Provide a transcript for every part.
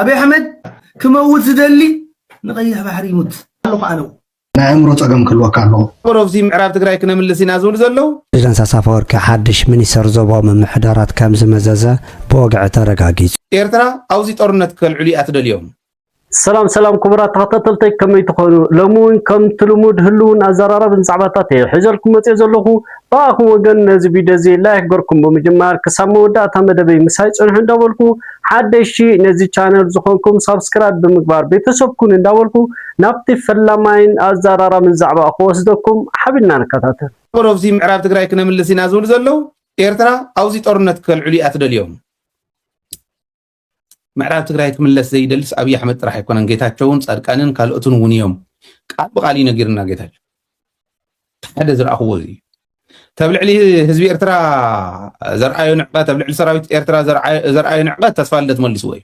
ኣብይ ኣሕመድ ክመውት ዝደሊ ንቀይሕ ባሕሪ ይሙት ኣለኹ ኣነው ናይ ኣእምሮ ጸገም ክህልወካ ኣለዎ። ሮብዚ ምዕራብ ትግራይ ክነምልስ ኢና ዝብሉ ዘለዉ። ፕሬዚደንት ኢሳያስ ኣፈወርቂ ሓድሽ ሚኒስተር ዞባዊ ምምሕዳራት ከምዝመዘዘ ብወግዒ ተረጋጊጹ። ኤርትራ ኣውዚ ጦርነት ከልዕሉ ኢያ ትደልዮም። ሰላም ሰላም ክቡራት ተኸታተልተይ ከመይ ትኾኑ ሎሚ እውን ከምቲ ልሙድ ህሉውን ኣዘራራብን ዛዕባታት እየ ሒዘልኩም መፂኦ ዘለኹ ብኣኹም ወገን ነዚ ቪድዮ እዚ ላይክ ገርኩም ብምጅማር ክሳብ መወዳእታ መደበይ ምሳይ ጽንሑ እንዳበልኩ ሓደሽቲ ነዚ ቻነል ዝኾንኩም ሳብስክራይብ ብምግባር ቤተሰብ ኩኑ እንዳበልኩ ናብቲ ፈላማይን ኣዛራራምን ዛዕባ ክወስደኩም ሓቢርና ንከታተል። ኣቦሮብሲ ምዕራብ ትግራይ ክነምልስ ኢና ዝብሉ ዘለው ኤርትራ ኣውዚ ጦርነት ከልዕሉ እያ ትደልዮም። ምዕራብ ትግራይ ክምለስ ዘይደልስ ኣብይ ኣሕመድ ጥራሕ ኣይኮነን ጌታቸውን ፃድቃንን ካልኦትን እውን እዮም ቃል ብቃል እዩ ነጊርና ጌታቸው ሓደ ዝረኣኽዎ እዚ እዩ ተብ ልዕሊ ህዝቢ ኤርትራ ዘርኣዮ ንዕቀት ኣብ ልዕሊ ሰራዊት ኤርትራ ዘርኣዮ ንዕቀት ተስፋ ልደት መልስዎ እዩ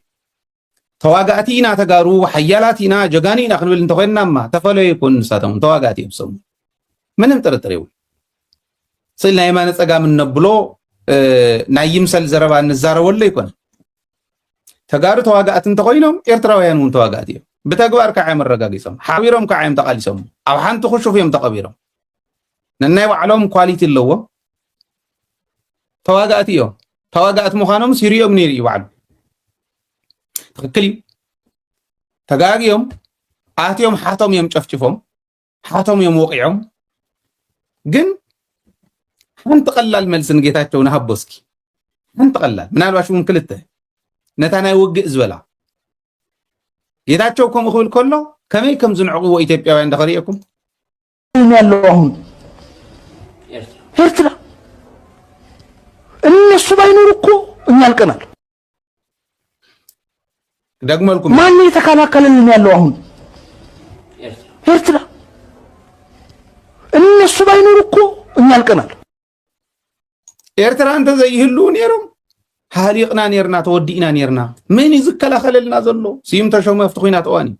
ተዋጋእቲ ኢና ተጋሩ ሓያላት ኢና ጀጋኑ ኢና ክንብል እንተኮይንናማ ተፈለዩ ይኮኑ ንሳቶም ተዋጋእቲ እዮም ሰሙ ምንም ጥርጥር የብሉ ስእሊ ናይ የማነ ፀጋም እነብሎ ናይ ይምሰል ዘረባ እንዛረበሉ ኣይኮነ ተጋሩ ተዋጋእቲ እንተኮይኖም ኤርትራውያን እውን ተዋጋእቲ እዮም ብተግባር ከዓ እዮም ኣረጋጊፆም ሓቢሮም ከዓ እዮም ተቃሊሶም ኣብ ሓንቲ ክሹፍ እዮም ተቐቢሮም ነናይ ባዕሎም ኳሊቲ ኣለዎም ተዋጋእቲ እዮም ተዋጋእቲ ምዃኖም ሲሪኦም ነይሩ እዩ ባዕሉ ትክክል እዩ ተጋግዮም ኣትዮም ሓቶም እዮም ጨፍጭፎም ሃቶም እዮም ወቂዖም ግን ሓንቲ ቀላል መልሲ ንጌታቸው ንሃቦ እስኪ ሓንቲ ቀላል ምናልባሽ እውን ክልተ ነታ ናይ ውግእ ዝበላ ጌታቸው ከምኡ ክብል ከሎ ከመይ ከም ዝንዕቕዎ ኢትዮጵያውያን ዳኸሪኤኩም ያለው አሁን ኤርትራ እነሱ ባይኖር እኮ እኛ አልቀናል። ደግመልኩ ማን የተከላከለልን ያለው አሁን ኤርትራ እነሱ ባይኖር እኮ እኛ አልቀናል። ኤርትራ እንተ ዘይህሉ ነይሮም ሃሊቕና ነርና ተወዲእና ነርና። መን እዩ ዝከላኸለልና ዘሎ? ስዩም ተሾመ ኣብቲ ኩናት እዋን እዩ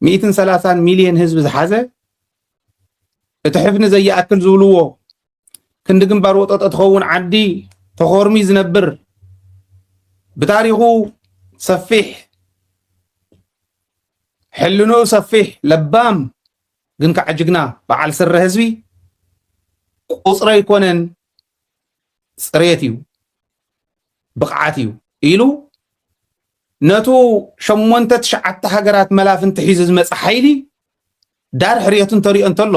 ሚእትን ሰላሳን ሚልዮን ህዝቢ ዝሓዘ እቲ ሕፍኒ ዘይኣክል ዝብልዎ ክንዲ ግንባር ወጠጦ ትኸውን ዓዲ ተኾርሚ ዝነብር ብታሪኹ ሰፊሕ ሕልንኡ ሰፊሕ ለባም ግን ከዓ ጅግና በዓል ስረ ህዝቢ ቁፅሪ ኣይኮነን ፅሬት እዩ ብቕዓት እዩ ኢሉ ነቱ ሸሞንተ ትሽዓተ ሃገራት መላፍንቲ ሒዙ ዝመፀ ሓይሊ ዳር ሕርየቱ እንተሪኦ እንተሎ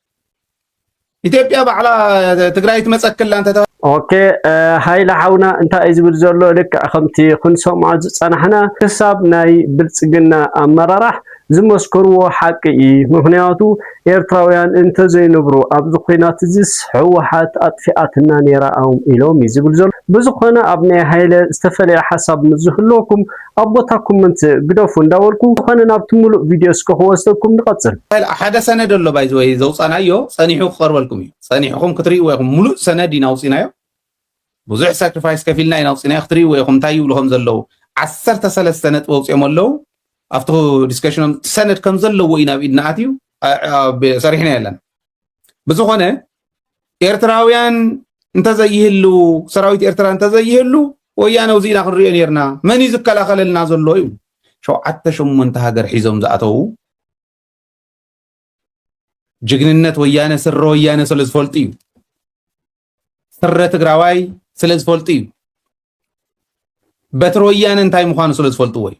ኢትዮጵያ ባዕላ ትግራይ ትመፀክላ እንተ ኦኬ ሃይለ ሓውና እንታይ እዩ ዝብል ዘሎ ልክዕ ከምቲ ክንሰምዖ ዝፀናሕና ክሳብ ናይ ብልፅግና ኣመራራሕ ዝመስከርዎ ሓቂ እዩ ምክንያቱ ኤርትራውያን እንተዘይንብሩ ኣብዚ ኩናት እዚስ ህወሓት ኣጥፊኣትና ነይራ ኢሎም እዩ ዝብል ዘሎ ብዝኾነ ኣብ ናይ ሃይለ ዝተፈለየ ሓሳብ ምስ ዝህልወኩም ኣብ ቦታ ኮመንት ግደፉ እንዳበልኩ ብዝኮነ ናብቲ ሙሉእ ቪድዮ እስከ ክወስደኩም ንቀጽል። ሓደ ሰነድ ኣሎ ባይ ዘ ወይ ዘውጻናዮ ጸኒሑ ክቀርበልኩም እዩ ጸኒሕኹም ክትርእይዎ ኢኹም ሙሉእ ሰነድ ኢና ኣውጺናዮ ብዙሕ ሳክሪፋይስ ከፊልና ኢና ኣውጺናዮ ክትርእይዎ ኢኹም እንታይ ይብሉ ከም ዘለዉ ዓሰርተ ሰለስተ ነጥቢ ኣውጺኦም ኣለዉ ኣብቲ ዲስከሽኖም ሰነድ ከም ዘለዎ እዩ ናብ ኢድና ኣትዩ ሰሪሕና የለን ብዝኾነ ኤርትራውያን እንተዘይህሉ ሰራዊት ኤርትራ እንተዘይህሉ ወያነ ውዚ ኢና ክንሪኦ ነርና መን እዩ ዝከላኸለልና ዘሎ እዩ ሸውዓተ ሸሞንተ ሃገር ሒዞም ዝኣተዉ ጅግንነት ወያነ ስረ ወያነ ስለ ዝፈልጡ እዩ ስረ ትግራዋይ ስለ ዝፈልጡ እዩ በትሪ ወያነ እንታይ ምዃኑ ስለ ዝፈልጥዎ እዩ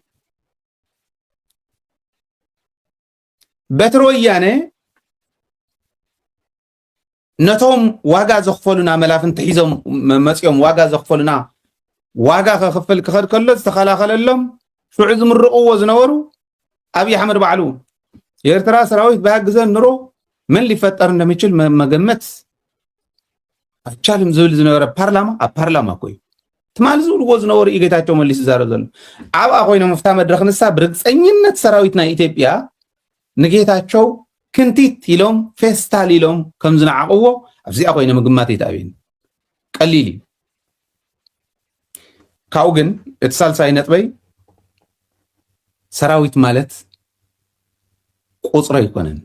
በትሪ ወያነ ነቶም ዋጋ ዘኽፈሉና መላፍንቲ ሒዞም መፅኦም ዋጋ ዘኽፈሉና ዋጋ ከኽፍል ክኸድ ከሎ ዝተኸላኸለሎም ሽዑ ዝምርቕዎ ዝነበሩ ኣብዪ ኣሕመድ ባዕሉ የኤርትራ ሰራዊት ብሃግዘን ኑሮ ምን ሊፈጠር እንደሚችል መገመት ኣይቻልን ዝብል ዝነበረ ፓርላማ ኣብ ፓርላማ እኮ እዩ ትማሊ ዝብልዎ ዝነበሩ እዩ ጌታቸው መሊስ ዝዛረብ ዘሎ ዓብኣ ኮይኖም ኣብታ መድረክ ንሳ ብርግፀኝነት ሰራዊት ናይ ኢትዮጵያ ንጌታቸው ክንቲት ኢሎም ፌስታል ኢሎም ከም ዝነዓቕዎ ኣብዚኣ ኮይነ ምግማት ይትኣብኒ ቀሊል እዩ ካብኡ ግን እቲ ሳልሳይ ነጥበይ ሰራዊት ማለት ቁፅሪ ኣይኮነን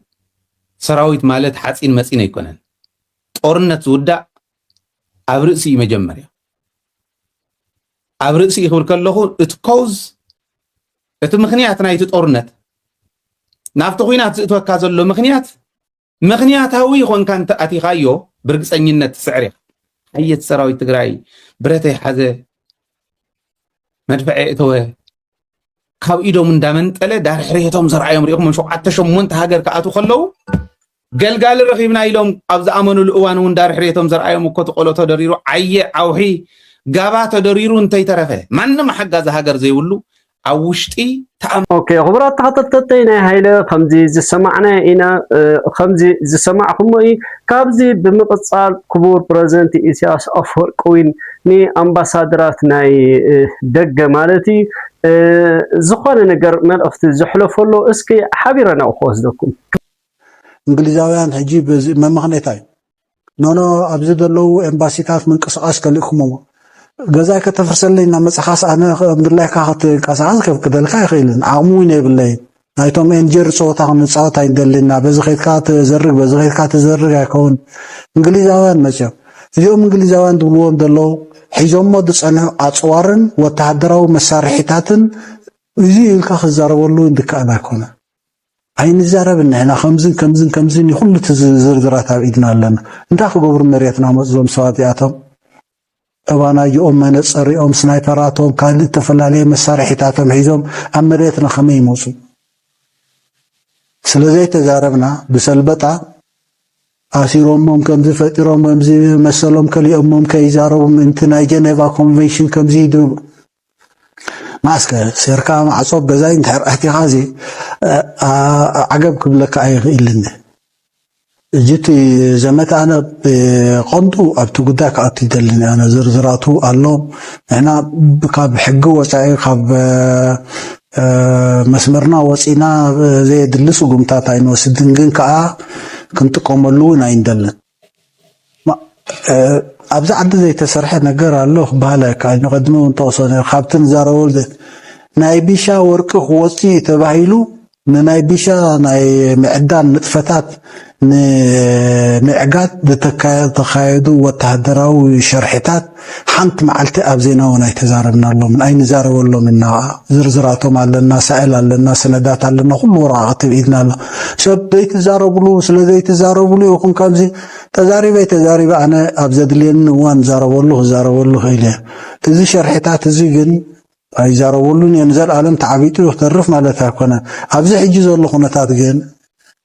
ሰራዊት ማለት ሓፂን መፂን ኣይኮነን ጦርነት ዝውዳእ ኣብ ርእሲ እዩ መጀመርያ ኣብ ርእሲ እዩ ክብል ከለኹ እቲ ኮዝ እቲ ምክንያት ናይቲ ጦርነት ናብቲ ኩናት ዝእትወካ ዘሎ ምክንያት ምክንያታዊ ይኾንካ እንተ ኣቲኻዮ ብርግፀኝነት ትስዕር ኢኻ ሓየት ሰራዊት ትግራይ ብረተ ይሓዘ መድፈዐ እተወ ካብ ኢዶም እንዳመንጠለ ዳርሕሬቶም ዘርኣዮም ሪኢኹም ሸውዓተ ሸሞንተ ሃገር ክኣትዉ ከለዉ ገልጋሊ ረኺብና ኢሎም ኣብ ዝኣመኑሉ እዋን እውን ዳርሕሬቶም ዘርኣዮም እኮቲ ቆሎ ተደሪሩ ዓየ ዓውሒ ጋባ ተደሪሩ እንተይተረፈ ማንም ሓጋዚ ሃገር ዘይብሉ ኣብ ውሽጢ ኦኬ ክቡራት ተኸታተልተይ ናይ ሃይለ ከምዚ ዝሰማዕናዮ ኢና ከምዚ ዝሰማዕኩሞ እዩ ካብዚ ብምቕጻል ክቡር ፕረዚደንት ኢሳያስ ኣፈወርቂ እውን ንኣምባሳደራት ናይ ደገ ማለት እዩ ዝኾነ ነገር መልእኽቲ ዘሕለፈሎ እስኪ ሓቢረ ናብኡ ክወስደኩም እንግሊዛውያን ሕጂ በዚ መመኽኔታይ ኖኖ ኣብዚ ዘለዉ ኤምባሲታት ምንቅስቓስ ከሊእኩምዎ ገዛይ ከተፍርሰለይ እና መጽኻስ ኣነ ምድላይካ ክትንቀሳቐስ ከፍቅደልካ ኣይኽእልን ዓቕሚ እውን የብለይን ናይቶም ኤንጀር ፀወታ ክንፃወት ኣይንደልና በዚ ከይድካ ትዘርግ በዚ ከይድካ ትዘርግ ኣይከውን እንግሊዛውያን መፅኦም እዚኦም እንግሊዛውያን ዝብልዎም ዘለዉ ሒዞሞ ዝፀንሑ ኣፅዋርን ወተሃደራዊ መሳርሒታትን እዚ ኢልካ ክዛረበሉ ድከኣል ኣይኮነን ኣይንዛረብን ንሕና ከምዝን ከምዝን ከምዝን እዩ ኩሉ እቲ ዝርዝራት ኣብ ኢድና ኣለና እንታይ ክገብሩ መሬትና መፁ እዞም ሰባት እዚኣቶም እባናጅኦም መነፀሪኦም ስናይፐራቶም ካልእ እተፈላለየ መሳርሒታቶም ሒዞም ኣብ መሬትና ከመይ ይመፁ ስለ ዘይተዛረብና ብሰልበጣ ኣሲሮሞም ከምዚ ፈጢሮም ከምዚ መሰሎም ከሊኦሞም ከይዛረቡ ምእንቲ ናይ ጀኔቫ ኮንቨንሽን ከምዚ ይድርቡ መኣስከ ሴርካ ማዕጾ ገዛይ እንድሕር ኣእቲኻዚ ዓገብ ክብለካ ኣይኽእልን። ሕጂ እቲ ዘመተ ኣነ ብቐንዱ ኣብቲ ጉዳይ ክኣቱ ኣይደልን ኣነ ዝርዝራቱ ኣሎ ንሕና ካብ ሕጊ ወጻኢ ካብ መስመርና ወጺእና ዘየድሊ ስጉምታት ኣይንወስድን ግን ከኣ ክንጥቀመሉ እውን ኣይንደልን። ኣብዚ ዓዲ ዘይተሰርሐ ነገር ኣሎ ክበሃል ኣይከኣልን። ቅድሚ እውን ጠቕሶ ነይሩ ካብቲ ንዛረበሉ ናይ ቢሻ ወርቂ ክወፅ እዩ ተባሂሉ ንናይ ቢሻ ናይ ምዕዳን ንጥፈታት ንምዕጋት ዝተካየዱ ወተሃደራዊ ሸርሒታት ሓንቲ መዓልቲ ኣብ ዜና እውን ኣይተዛረብናሎምን፣ ኣይንዛረበሎምን ኢና ከኣ። ዝርዝራቶም ኣለና፣ ሳእል ኣለና፣ ሰነዳት ኣለና፣ ኩሉ ወረቓቕቲ ኣብ ኢድና ኣሎ። ሰብ ዘይትዛረብሉ ስለ ዘይትዛረብሉ ኢኹም ከምዚ ተዛሪበይ ተዛሪበ ኣነ ኣብ ዘድልየኒ እዋን እዛረበሉ ክዛረበሉ ክእል እየ። እዚ ሸርሒታት እዚ ግን ኣይዛረበሉን እየ፣ ንዘልኣለም ተዓቢጡ እዩ ክተርፍ ማለት ኣይኮነን። ኣብዚ ሕጂ ዘሎ ኩነታት ግን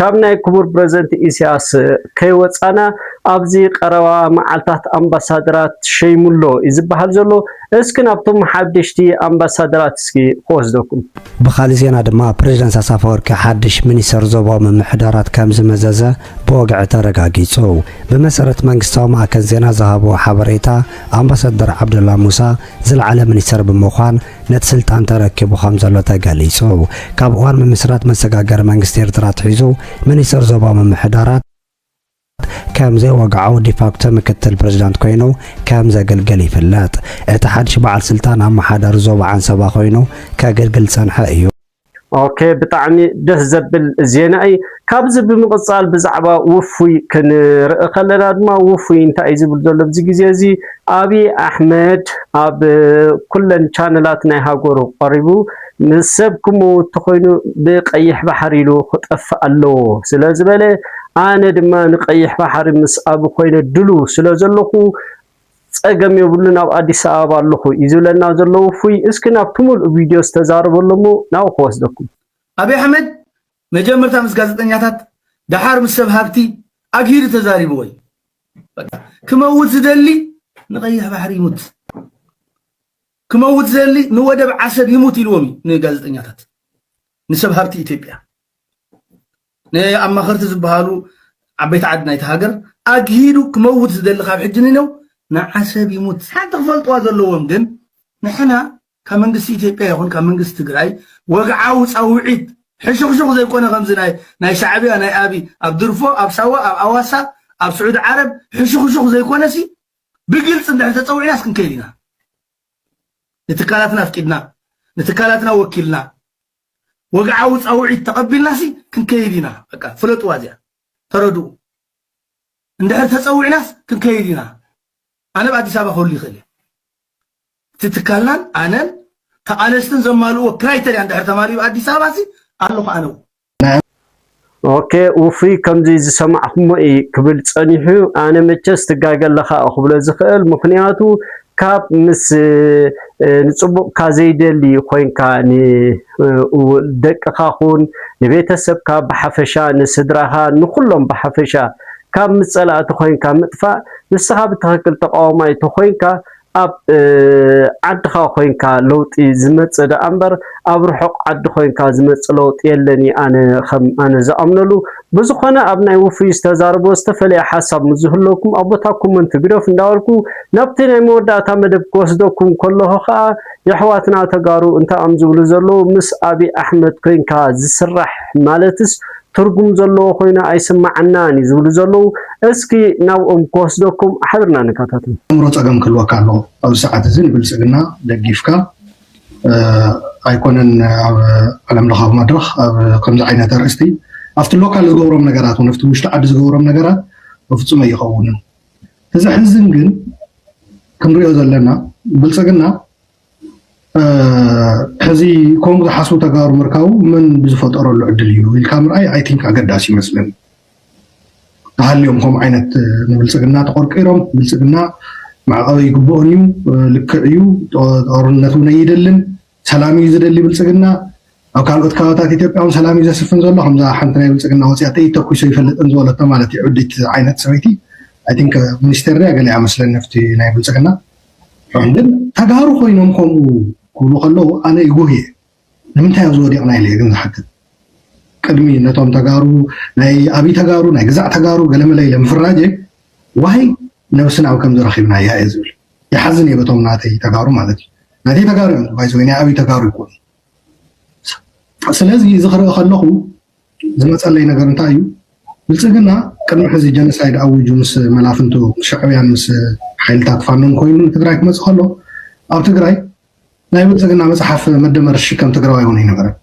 ካብ ናይ ክቡር ፕረዚደንት ኢሲያስ ከይወጻና ኣብዚ ቀረባ መዓልታት ኣምባሳደራት ሸይሙ'ሎ እዩ ዝበሃል ዘሎ። እስኪ ናብቶም ሓደሽቲ ኣምባሳደራት እስኪ ክወስደኩም። ብኻልእ ዜና ድማ ፕረዚደንት ኣሳፈወርቂ ሓድሽ ሚኒስተር ዞባዊ ምምሕዳራት ከምዝመዘዘ ብወግዒ ተረጋጊጹ። ብመሰረት መንግስታዊ ማእከን ዜና ዝሃብዎ ሓበሬታ ኣምባሳደር ዓብደላ ሙሳ ዝለዓለ ሚኒስተር ብምዃን ነቲ ስልጣን ተረኪቡ ከምዘሎ ተገሊጹ። ካብ እዋን ምምስራት መሰጋገሪ መንግስቲ ኤርትራ ኣትሒዙ ሚኒስተር ዞባዊ ምምሕዳራት ከም ዘይወግዓዊ ዲፋክቶ ምክትል ፕሬዚዳንት ኮይኑ ከም ዘገልግል ይፍለጥ። እቲ ሓድሽ በዓል ስልጣን ኣመሓዳሪ ዞባ ዓንሰባ ኮይኑ ከገልግል ዝጸንሐ እዩ። ኦኬ ብጣዕሚ ደስ ዘብል ዜና እዩ። ካብዚ ብምቕጻል ብዛዕባ ውፉይ ክንርኢ ከለና ድማ ውፉይ እንታይ እዩ ዝብል ዘሎ ኣብዚ ግዜ እዚ ኣብዪ ኣሕመድ ኣብ ኩለን ቻነላት ናይ ሃገሩ ቀሪቡ ምስ ሰብ ክመውት ተኾይኑ ብቀይሕ ባሕሪ ኢሉ ክጠፍእ ኣለዎ ስለ ዝበለ ኣነ ድማ ንቀይሕ ባሕሪ ምስ ኣብ ኮይነ ድሉው ስለ ዘለኹ ጸገም የብሉን ኣብ ኣዲስ ኣበባ ኣለኹ እዩ ዝብለና ዘሎ ውፉይ። እስኪ ናብቲ ምሉእ ቪድዮ ዝተዛረቦ ኣሎ እሞ ናብኡ ክወስደኩም። ኣብይ ኣሕመድ መጀመርታ ምስ ጋዜጠኛታት ደሓር ምስ ሰብ ሃብቲ ኣግሂዱ ተዛሪብዎ እዩ። በቃ ክመውት ዝደሊ ንቀይሕ ባሕሪ ይሙት፣ ክመውት ዝደሊ ንወደብ ዓሰብ ይሙት ኢልዎም እዩ ንጋዜጠኛታት ንሰብ ሃብቲ ኢትዮጵያ። ንኣማኸርቲ ዝበሃሉ ዓበይቲ ዓዲ ናይቲ ሃገር ኣግሂዱ ክመውት ዝደሊ ካብ ሕጂ ንነው ንዓሰብ ይሙት ሓንቲ ክፈልጥዋ ዘለዎም ግን ንሕና ካብ መንግስቲ ኢትዮጵያ ይኹን ካብ መንግስቲ ትግራይ ወግዓዊ ጻውዒት ሕሹኽሹኽ ዘይኮነ ከምዚ ናይ ናይ ሻዕብያ ናይ ኣቢ ኣብ ድርፎ ኣብ ሳዋ ኣብ ኣዋሳ ኣብ ስዑዲ ዓረብ ሕሹኽሹኽ ዘይኮነሲ ብግልፂ እንድሕር ተፀዊዕናስ ክንከይድ ኢና ንትካላትና ኣፍቂድና ንትካላትና ወኪልና ወግዓዊ ጻውዒት ተቐቢልናሲ ክንከይድ ኢና በቃ ፍለጥዋ እዚኣ ተረድኡ እንድሕር ተጸዊዕናስ ክንከይድ ኢና ኣነ ኣብ ኣዲስ ኣበባ ክህሉ ይኽእል እየ እቲ ትካልናን ኣነን ተቓለስትን ዘማልእዎ ክራይተርያ እንድሕር ተማሊኡ ኣዲስ ኣበባሲ ኣለኹ ኣነ እውን ኦኬ ውፉይ ከምዚ ዝሰማዕኩሞ እዪ ክብል ጸኒሑ ኣነ መቸስ ትጋገ ኣለኻ ክብሎ ዝኽእል ምኽንያቱ ካብ ምስ ንጽቡቕካ ዘይደሊ ኮንካ ንደቅኻ ኹን ንቤተሰብካ ብሓፈሻ ንስድራኻ ንኹሎም ብሓፈሻ ካብ ምስ ጸላእቲ ኮንካ ምጥፋእ ንስኻ ብትኽክል ተቓዋማይ ተኾይንካ ኣብ ዓድኻ ኮይንካ ለውጢ ዝመጽእ ደኣ እምበር ኣብ ርሑቕ ዓዲ ኮይንካ ዝመጽእ ለውጢ የለን እየ ኣነ ከም ኣነ ዝኣምነሉ። ብዝኾነ ኣብ ናይ ውፉይ ዝተዛረቦ ዝተፈለየ ሓሳብ ምስ ዝህለወኩም ኣብ ቦታ ኮመንት ግደፉ እንዳበልኩ ናብቲ ናይ መወዳእታ መደብ ክወስደኩም ከለኹ ከኣ የሕዋትና ተጋሩ እንታዮም ዝብሉ ዘለዉ ምስ ኣቢ ኣሕመድ ኮይንካ ዝስራሕ ማለትስ ትርጉም ዘለዎ ኮይኑ ኣይስማዓናን እዩ ዝብሉ ዘለዉ እስኪ ናብኦም ክወስደኩም ሓብርና ንከታተል። ኣእምሮ ጸገም ክህልወካ ኣለዎ ኣብዚ ሰዓት እዚ ንብልጽግና ደጊፍካ ኣይኮነን ኣብ ዓለም ለኻዊ መድረኽ ኣብ ከምዚ ዓይነት ኣርእስቲ ኣብቲ ሎካል ዝገብሮም ነገራት እውን ኣብቲ ውሽጢ ዓዲ ዝገብሮም ነገራት በፍጹም ኣይኸውንን እቲ ዘሕዝን ግን ክንሪኦ ዘለና ብልጽግና ሕዚ ከምኡ ዝሓስቡ ተጋሩ ምርካቡ መን ብዝፈጠረሉ ዕድል እዩ ኢልካ ምርኣይ ኣይ ቲንክ ኣገዳሲ ይመስለኒ ተሃልዮም ከምኡ ዓይነት ንብልፅግና ተቆርቂሮም ብልፅግና መዕቐቢ ይግብኦን እዩ ልክዕ እዩ ጦርነት እውን ኣይደልን ሰላም እዩ ዝደሊ ብልፅግና ኣብ ካልኦት ከባቢታት ኢትዮጵያ እውን ሰላም እዩ ዘስፍን ዘሎ ከምዛ ሓንቲ ናይ ብልፅግና ወፅያተ ተኩሶ ይፈልጥን ዝበለቶ ማለት እዩ ዕዲት ዓይነት ሰበይቲ ኣይ ቲንክ ሚኒስቴር ድያ ገሊኣ መስለኒ ኣብቲ ናይ ብልፅግና ሕም ግን ተጋሩ ኮይኖም ከምኡ ክብሉ ከለዉ ኣነ ይጉህ እየ ንምንታይ ኣብዚ ወዲቅና ኢለ እየ ግን ዝሓትት ቅድሚ ነቶም ተጋሩ ናይ ኣብይ ተጋሩ ናይ ግዛዕ ተጋሩ ገለመለ ኢለ ምፍራጀ ዋይ ነብስና ኣብ ከምዚ ረኪብናያ እየ ዝብል ይሓዝን እየ በቶም ናተይ ተጋሩ ማለት እዩ ናተይ ተጋሩ እዮም ባይዘወይ ናይ ኣብይ ተጋሩ ይኮኑ ስለዚ እዚ ክርኢ ከለኹ ዝመፀለይ ነገር እንታይ እዩ? ብልፅግና ቅድሚ ሕዚ ጀኖሳይድ ኣዊጁ ምስ መላፍንቱ ምስ ሻዕብያን ምስ ሓይልታት ፋኖን ኮይኑ ንትግራይ ክመፅእ ከሎ ኣብ ትግራይ ናይ ብልፅግና መፅሓፍ መደመር ዝሽከም ትግራዋይ እውን ኣይነበረን።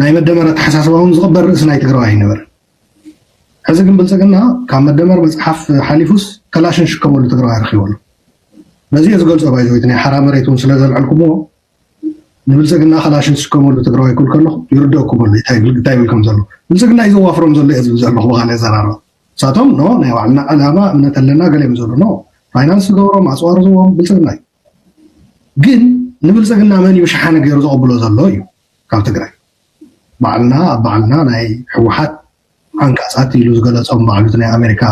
ናይ መደመር ኣተሓሳስባ እውን ዝቕበል ርእሲ ናይ ትግራዋይ ኣይነበረን። ሕዚ ግን ብልፅግና ካብ መደመር መፅሓፍ ሓሊፉስ ከላሽን ሽከመሉ ትግራዋይ ረኪቡ ኣሎ። በዚ እየ ዝገልፆ ባይዘወይቲ ናይ ሓራ መሬት እውን ስለዘልዐልኩምዎ ንብልፅግና ካላሽን ዝስከመሉ ትግራዋይ ክብል ከለኹ ይርደኩም ኣሎ እንታይ ይብል ከም ዘሎ ብልፅግና እዩ ዘዋፍሮም ዘሎ እየ ዝብል ዘለኹ ብካል የዘራርባ ንሳቶም ኖ ናይ ባዕልና ዕላማ እምነት ኣለና ገለ እዮም ዘሎ ኖ ፋይናንስ ዝገብሮም ኣፅዋር ዝዎም ብልፅግና እዩ ግን ንብልፅግና መን እዩ ሸሓኒ ገይሩ ዘቐብሎ ዘሎ እዩ ካብ ትግራይ ባዕልና ኣብ ባዕልና ናይ ሕወሓት ዓንቃፃት ኢሉ ዝገለፆም ባዕሉ እቲ ናይ ኣሜሪካ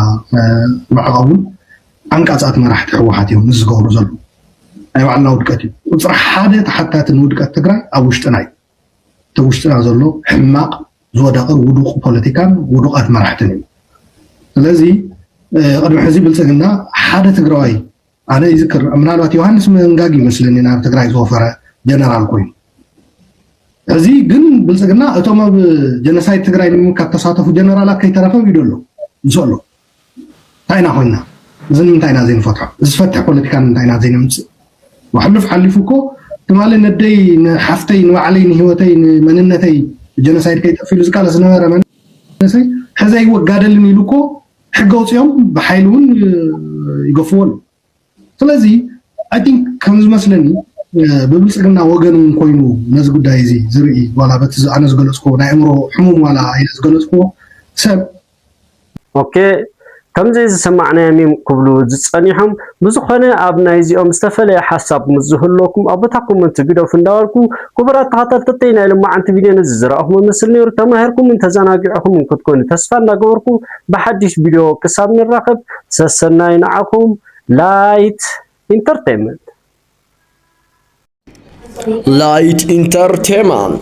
መዕቐብ እውን ዓንቃፃት መራሕቲ ህወሓት እዮም ምስ ዝገብሩ ዘለዉ ናይ ባዕልና ውድቀት እዩ ቁፅሪ ሓደ ተሓታቲ ንውድቀት ትግራይ ኣብ ውሽጥና እዩ እቲ ውሽጥና ዘሎ ሕማቕ ዝወደቐ ውዱቕ ፖለቲካን ውዱቓት መራሕትን እዩ ስለዚ ቅድሚ ሕዚ ብልፅግና ሓደ ትግራዋይ ኣነ ይዝክር ምናልባት ዮሃንስ መንጋግ ይመስለኒ ናብ ትግራይ ዝወፈረ ጀነራል ኮይኑ እዚ ግን ብልፅግና እቶም ኣብ ጀነሳይድ ትግራይ ንምምካት ተሳተፉ ጀነራላት ከይተረፈ ኢዶ ኣሎ ምስ ኣሎ እንታይ ኢና ኮይና እዚ ንምንታይ ኢና ዘይንፈትሖ እዚ ዝፈትሕ ፖለቲካ ንምንታይ ኢና ዘይነምፅእ ሕሉፍ ሓሊፉ እኮ ትማሊ ነደይ ንሓፍተይ ንባዕለይ ንሂወተይ ንመንነተይ ጀነሳይድ ከይጠፍ ኢሉ ዝቃለስ ዝነበረ መንእሰይ ሕዘ ይወጋደልን ኢሉ እኮ ሕጊ ኣውፂኦም ብሓይሊ እውን ይገፍዎ ኣለዉ ስለዚ ኣይ ቲንክ ከም ዝመስለኒ ብብልፅግና ወገን እውን ኮይኑ ነዚ ጉዳይ እዚ ዝርኢ ዋላ በቲ ኣነ ዝገለፅኩዎ ናይ ኣእምሮ ሕሙም ዋላ ኢለ ዝገለፅኩዎ ሰብ ኦኬ ከምዚ ዝሰማዕናዮም እዮም ክብሉ ዝፀኒሖም ብዝኾነ ኣብ ናይዚኦም ዝተፈለየ ሓሳብ ምስ ዝህልወኩም ኣብ ቦታ ኮመንቲ ግደፉ እንዳበልኩ ክቡራት ተኸታተልተይ ናይ ልማዓንቲ ቪድዮ ነዚ ዝረኣኹሞ መስል ነይሩ ተማሂርኩምን ተዘናጊዕኹምን ክትኮኑ ተስፋ እንዳገበርኩ ብሓዱሽ ቪድዮ ክሳብ ንራኸብ ሰሰናዩ ንዓኹም ላይት ኢንተርቴመንት Light Entertainment